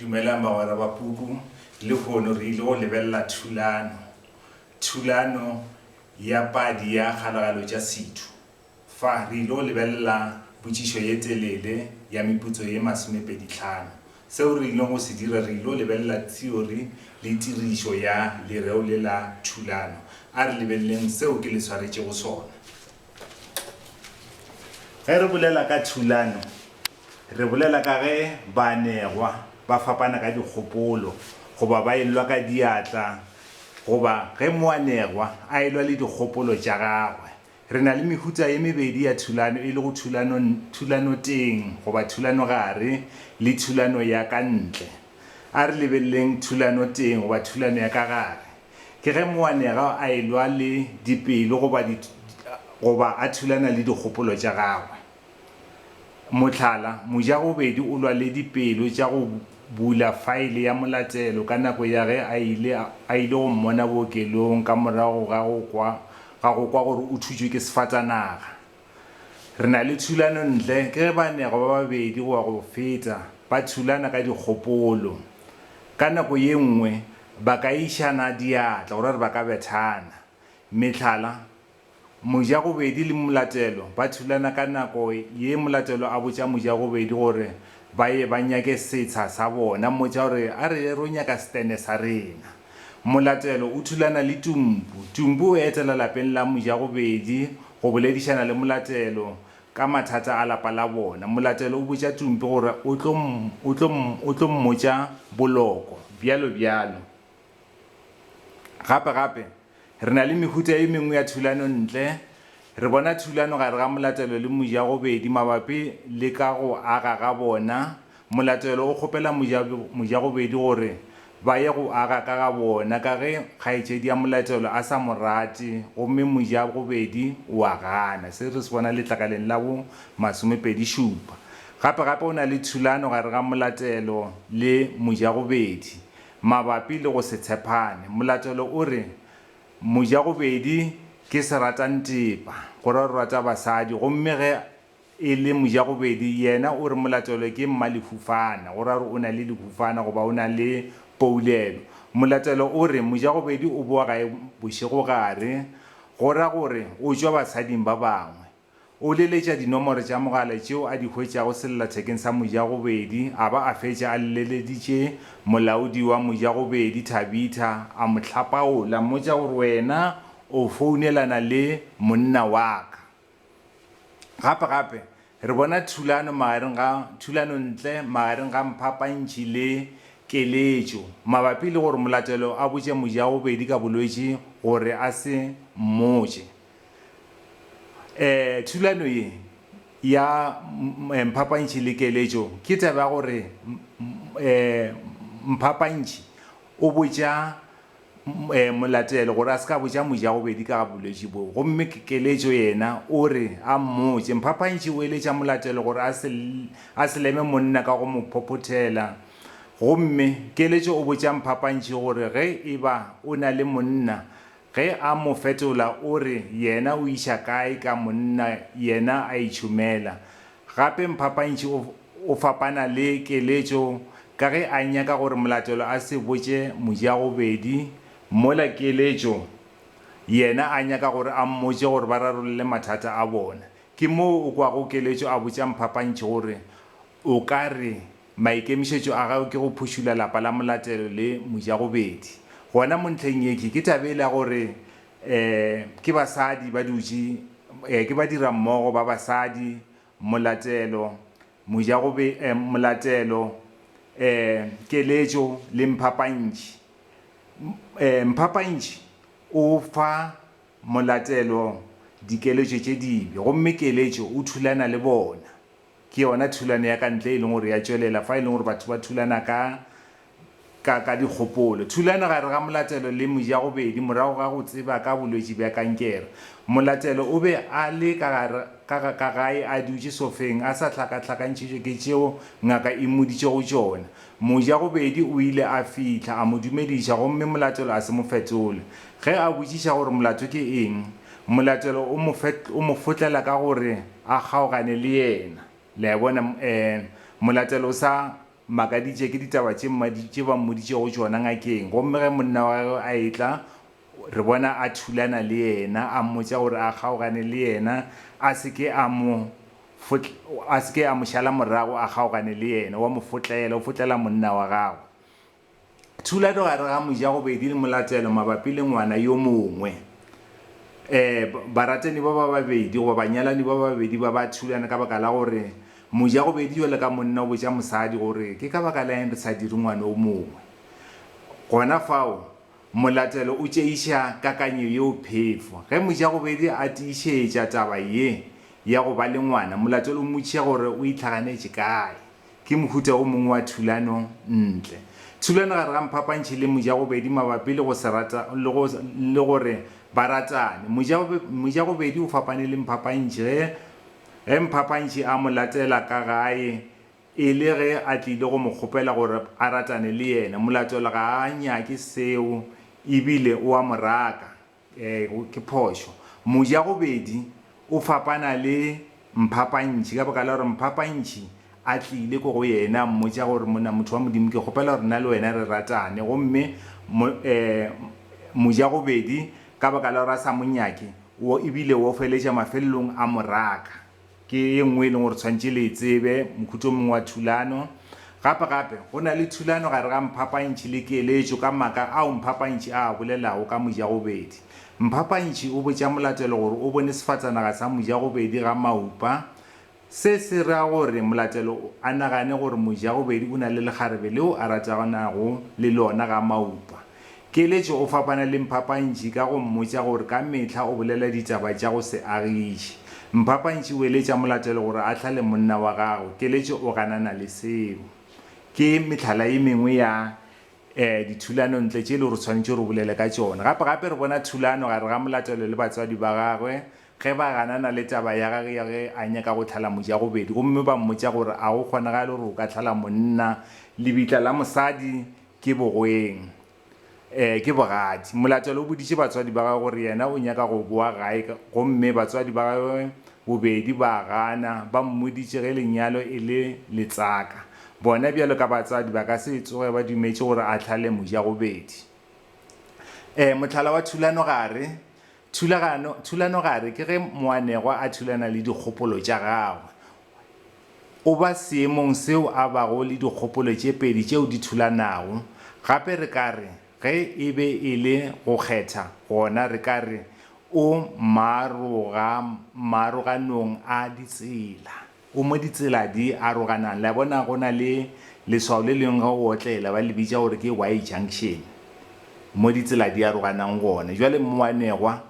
Dumelang bagwera ba puku. Lehono re ile go lebelela thulano, thulano ya padi ya Kgalagalo tša Sethu. Fa, re ile go lebelela potšišo ye telele ya meputso ye masomepedi tlhano. Seo re ilego go se dira, re ile go lebelela theory le tirišo ya lereo le la thulano. A re lebeleleng seo ke le swaretšego sona. Ge re bolela ka thulano, Re bolela ka ge baanegwa ba fapana ka dikgopolo goba ba e lwa ka diatla goba ge moanegwa a e lwa le dikgopolo tša gagwe. Re na le mehuta ye mebedi ya thulano e lego thulano thulanoteng goba thulanogare le thulano ya ka ntle. A re lebeleleng thulanoteng goba thulano ya ka gare. Ke ge moanegwa a e lwa le dipelo goba goba a thulana le dikgopolo tša gagwe. Mohlala, mojagobedi o lwa le dipelo tša go bula faele ya molatelo ka nako ya ge a ile a ile go mmona bookelong ka morago ga go kwa ga go kwa gore o thutšwe ke sefatanaga. Re na le thulano ntle ke ge baanegwa ba babedi goba go feta ba thulana ka dikgopolo. Ka nako ye nngwe ba ka išana diatla go ra gore ba ka bethana. Mehlala, Mojagobedi le Molatelo ba thulana ka nako ye Molatelo a botša Mojagobedi gore ba ye ba nyake setsha sa bona, mmotša gore a re ro nyaka setene sa rena. Molatelo o thulana le Tumpu. Tumpu o etela lapeng la Mojagobedi go boledišana le Molatelo ka mathata a lapa la bona. Molatelo o botša Tumpu gore o tlo o tlo o tlo mmotša boloko. Bjalo bjalo. Gape gape. Re na le mehuta e mengwe ya thulano ntle. Re bona thulano gare ga molatelo le mojagobedi mabapi le ka go aga ga bona. Molatelo o kgopela mojagobedi gore ba ye go aga ka ga bona ka ge kgaetšedi ya molatelo a sa mo rate gomme mojagobedi o a gana. Se re se bona letlakaleng la bo masomepedi šupa. Gape-gape o na le thulano gare ga molatelo le mojagobedi mabapi le go se tshepane. Molatelo o re, Mojagobedi ke seratantepa, go ra o rata basadi, gomme ge e le mojagobedi yena o re molatelo ke mmalefufana, go ra gore o na le lefufana goba o na le poulelo. Molatelo o re, Mojagobedi o boa gae bošegogare, go ra gore o tšwa basading ba bangwe. O leletša dinomoro tša mogala tšeo a di hwetšago sellathekeng sa mojagobedi a ba a fetša a lleleditše molaodi wa mojagobedi, Thabitha, a mo hlapaola, mmotša gore wena o founelana le monna wa ka. Gape gape re bona thulano magareng ga thulano ntle magareng ga Mphapantšhi le Keletšo mabapi le gore Molatelo a botše mojagobedi ka bolwetši gore a se mmotše. um thulano ye ya mphapantšhi le keletšo ke taba ya gore um mphapantšhi o botša um molatelo gore a se ka botša moja gobedi ka ga bolwetši boo gomme keletšo yena o re a mmotše mphapantšhi o eletša molatelo gore a se a se leme monna ka go mo phophothela gomme keletšo o botša mphapantšhi gore ge e ba o na le monna Ge a mo fetola o re yena o iša kae ka monna yena a itšhomela. Gape Mphapantši o, o fapana le Keletšo ka ge a nyaka gore Molatelo a se botše mojagobedi, mola Keletšo yena a nyaka gore a mmotše gore ba rarolle mathata a bona. Ke moo o kwago Keletšo a botša Mphapantši gore, O ka re, Maikemišetšo a gagwe ke go phušula lapa la Molatelo le Mojagobedi. Gona mo ntlheng ye ke taba ele ya gore um ke basadi ba dutše um ke badirammogo ba basadi, Molatelo, Mojagobe um Molatelo, um Keletšo le Mphapantši. Um Mphapantši o fa Molatelo dikeletšo tše dibe gomme Keletšo o thulana le bona. Ke yona thulano ya ka ntle e leng gore ya tšwelela fa e leng gore batho ba thulana ka, ka, ka dikgopolo. Thulano gare ga molatelo le mojagobedi morago ga go tseba ka bolwetši bja kankere. Molatelo o be a le ka gare, ka, ka gae a dutše sofeng a sa hlakahlakantšhitšwe ke tšeo ngaka e mmoditšego tšona. Mojagobedi o ile a fihla, a mo dumediša, gomme molatelo a se mo fetole. Ge a botšiša gore molato ke eng, Molatelo o mo, o mo fotlela ka gore a kgaogane le yena. Le a e bona? E, molatelo o sa makaditše ke ditaba tše mmadi, tše ba mmoditšego tšona ngakeng. Gomme ge monna wa gagwe a etla, re bona a thulana le yena, a mmotša gore a kgaogane le yena, a se ke a mo fotl, a se ke a mo šala morago a kgaogane le yena. O a mo fotlela, o fotlela monna wa gagwe. Tshulato gare ga mojagobedi le molatelo mabapi le ngwana yo mongwe. E, baratani ba ba babedi goba banyalani ba babedi ba ba thulana ka baka la gore mojagobedi jwalo ka monna o botša mosadi gore ke ka baka la eng re sa dire ngwana o mongwe. Gona fao, molatelo o tšeiša kakanyo yeo phefo. Ge mojagobedi a tiišetša taba ye ya go ba le ngwana, molatelo o mmotšiša gore o itlhaganetše kae. Ke mohuta o mongwe wa thulano ntle. Thulano gare ga mphapantšhi le mojagobedi mabapi le go se rata le go le gore ba ratane. Mojagobe mojagobedi o fapane le mphapantšhi ge ge mphapantšhi a mo latela ka gae e le ge a tlile go mo kgopela gore a ratane le yena. Molatola ga a nyake seo e bile o a mo raka. Ee, ke phošo. Mojagobedi o fapana le mphapantšhi ka baka la gore mphapantšhi a tlile ko go yena a mmotša gore, Monna, motho wa Modimo, ke kgopela gore nna le wena re ratane. Gomme mo, ee, mojagobedi ka baka la gore a sa mo nyake, o, e bile o feletša mafelelong a mo raka. Ke ye nngwe e leng gore tshwanetse le e tsebe, mokhutšo mongwe wa thulano. Gape gape, go na le thulano gare ga mphapantšhi le keletšo ka maka ao mphapantšhi a a bolelago ka mojagobedi. Mphapantšhi o botša molatelo gore o bone sefatsanaga sa mojagobedi ga maupa. Se se ra gore molatelo a nagane gore mojagobedi o na le lekgarebe leo a ratanago le lona ga maupa. Keletšo, O fapana le mphapantši ka go mmotša gore ka mehla o bolela ditaba tša go se agiše. Mphapantši o eletša molatelo gore a hlale monna wa gagwe. Keletšo, O ganana le seo. Ke mehlala e mengwe ya dithulanontle tše e lego gore re swanetše re bolele ka tšona. Gape gape re bona thulano gare ga molatelo le batswadi ba gagwe ge ba ganana le taba ya gagwe ya ge a nyaka go hlala mojagobedi gomme ba mmotša gore a go kgonagale gore o ka hlala monna. Lebitla la mosadi Ke bogoeng? Ee, ke bogadi. Molatelo o boditše batswadi ba gagwe gore yena o nyaka go boa gae gomme batswadi ba gagwe bobedi ba a gana, ba mmoditše ge lenyalo e le letsaka. Bona bjalo ka batswadi ba ka se tsoge ba dumetše gore a hlale mojagobedi. Ee, mohlala wa thulanogare Thulagano, thulanogare, ke ge moanegwa a thulana le dikgopolo tša gagwe. O ba seemong seo a bago le dikgopolo tše pedi tšeo di thulanago. Gape re ka re, ge e be e le go kgetha, gona re ka re o maroga, maroganong a ditsela. O mo ditsela di aroganang. Le a bona, go na le leswao le lengwe ge o otlela, ba le bitša gore ke Y junction, mo ditsela di aroganang gone. Bjale mmoanegwa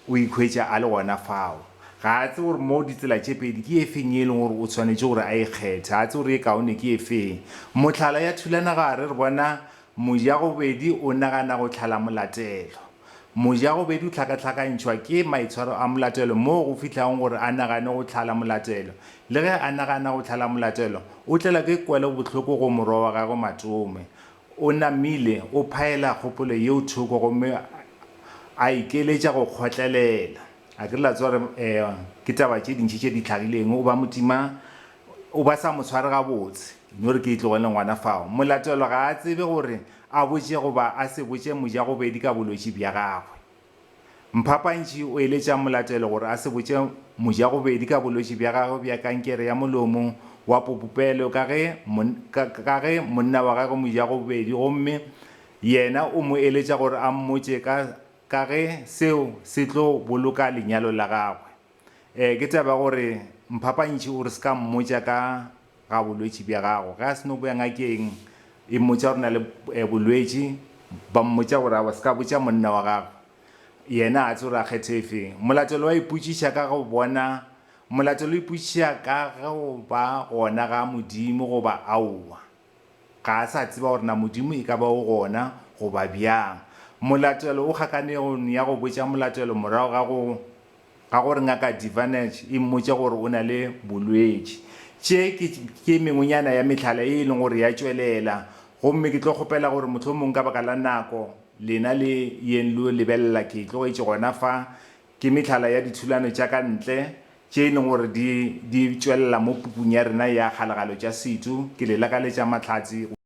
o ikhwetša a le gona fao. Ga a tsebe gore mo ditsela tše pedi ke e feng ye e lego gore o swanetše gore a e kgethe. A tsebe gore ye kaone ke e feng. Mohlala, ya thulana gare, re bona mojagobedi o nagana go tlhala molatelo. Moja go be du hlakahlakantšhwa ke maitshwaro a molatelo moo go fihlago gore a nagane go hlala molatelo. Le ge a nagana go hlala molatelo, o tlelwa ke kwelo bohloko go morwa wa gagwe Matome. O namile, o phaela kgopolo yeo thoko gomme a ikeletša go kgotlelela. A ke la tswa gore ke taba tše dintši tše di hlagileng, o ba motima, o ba sa mo tshware gabotse. No re ke e tlogele ngwana fao. Molatelo ga a tsebe gore A botše goba a se botše mojagobedi ka bolwetši bja gagwe. Mphapantši o eletša molatelo gore a se botše mojagobedi ka bolwetši bja gagwe bja kankere ya molomo wa popopelo ka ge ka ge monna wa gagwe mojagobedi gomme yena o mo eletša gore a mmotše ka ka ge seo se tlo boloka lenyalo la gagwe. Ee, ke taba ya gore Mphapantši o re se ka mmotša ka ga bolwetši bja gago. Ge a se no boya ngakeng, e mmotša gore na le bolwetši, ba mmotša gore aowa se ka botša monna wa gagwe, yena a tsebe gore a kgethe e feng. Molatelo wa ipotšiša ka go bona, molatelo o ipotšiša ka go ba gona ga Modimo goba aowa. Ga a sa tseba gore na Modimo e ka ba o gona goba bjang. Molatelo o kgakanego ya go botša molatelo morago ga go Ka gore Ngaka Divanec e mmotša gore o na le bolwetši. Tše ke, ke mengwenyana ya mehlala ye e leng gore ya tšwelela. Gomme ke tlo kgopela gore mohlomong ka baka la nako, lena le yeng lo lebelela, ke e tlogetše gona fa. Ke mehlala ya dithulano tša ka ntle, tše e leng gore di, di tšwelela mo pukung ya rena ya Kgalagalo tša Setu. Ke le lakaletša mahlatse go.